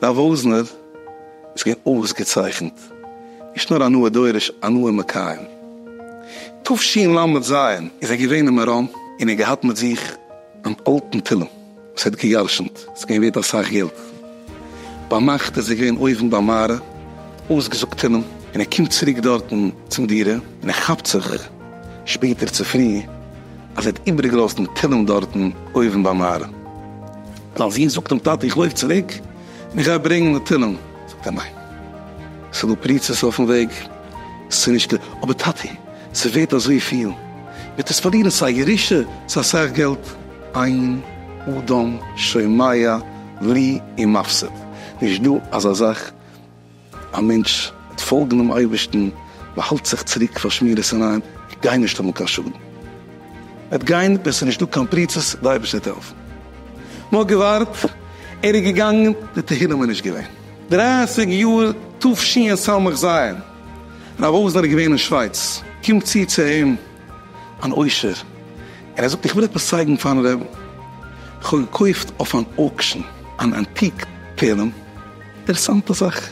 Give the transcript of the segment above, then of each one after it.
דער וואזנער איז געווען אויסגעצייכנט, נישט נאר הנאה דורש, הנאה מקיים. תשל ל ז איז ער געווען אין מירון און ער האט געהאט מיט זיך אן אלטן תהלים. עס האט געיארשנט, עס איז געווען ווערט אסאך געלט, ביינאכט איז ער געווען אויבן ביי מהר א, אויסגעזאגט אין אים, און ער קומט צוריק דארטן צום דירה, און ער כאפט זיך שפעטער צופרי אז ער האט איבערגעלאזט דעם תהלים דארטן אויבן ביי מהר א, זיין זון זאגט אים, טאטע איך לויף צוריק און איך גיי ברענגן די תהלים, זאגט ער, ניין, עס איז דא פריצות אויפן וועג, עס איז נישט כדאי, אבער טאטי, עס איז ווערט אזויפיל, מען וועט עס פארלירן, ס'איז א ירושה, ס'איז אסאך געלט. אין אדם שומע לי און מפסיד, נישט דא אזא זאך, א מענטש וועט פאלגן דעם אייבערשטן, באהאלט זיך צוריק פון שמירת עיניים, גייט נישט האבן קיין שאדן, וועט גיין ווען ס'איז נישטא קיין פריצות, די אייבערשטער וועט העלפן, נאר געווארט, ער איז געגאנגען, די תהילים איז נישט געווען, דרייסיג יאר תש י אין סמכ ז, רב וואזנער איז געווען אין שווייץ, קומט צו צו אים. אן עושר און ער זאגט איך וויל עפעס צייגן פארן רבי, איך האב געקויפט אויף אן אוקשען אן אנטיק תהלים, אינטערעסאנטע זאך,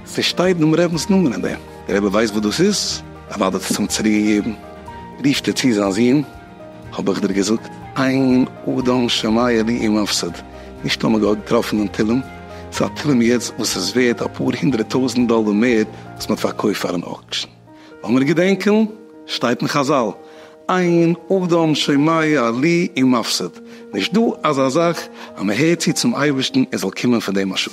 ס'שטייט דעם רבינ'ס נאמען אין דעם, דער רבי ווייסט וואס דאס איז? אוודאי האט ער עס אים צוריק געגעבן, רופט ער צו זיין זון, האב איך דיר געזאגט אין אדם שמיה לי אם אפסד, נישט טאמער געהאט געטראפן דעם תהלים, ס'איז א תהלים יעצט וואס איז ווערט אפאר הונדרעט טויזענט דאלער מער וואס מ'האט פארקויפט פארן אוקשען. לאמיר געדענקען, שטייט אין חזל, אין אדם שומע לי אין מפסיד, נישט דא אזא זאך אז מען הערט צו צום אייבערשטן עס זאל קומען פון דעם א שאד.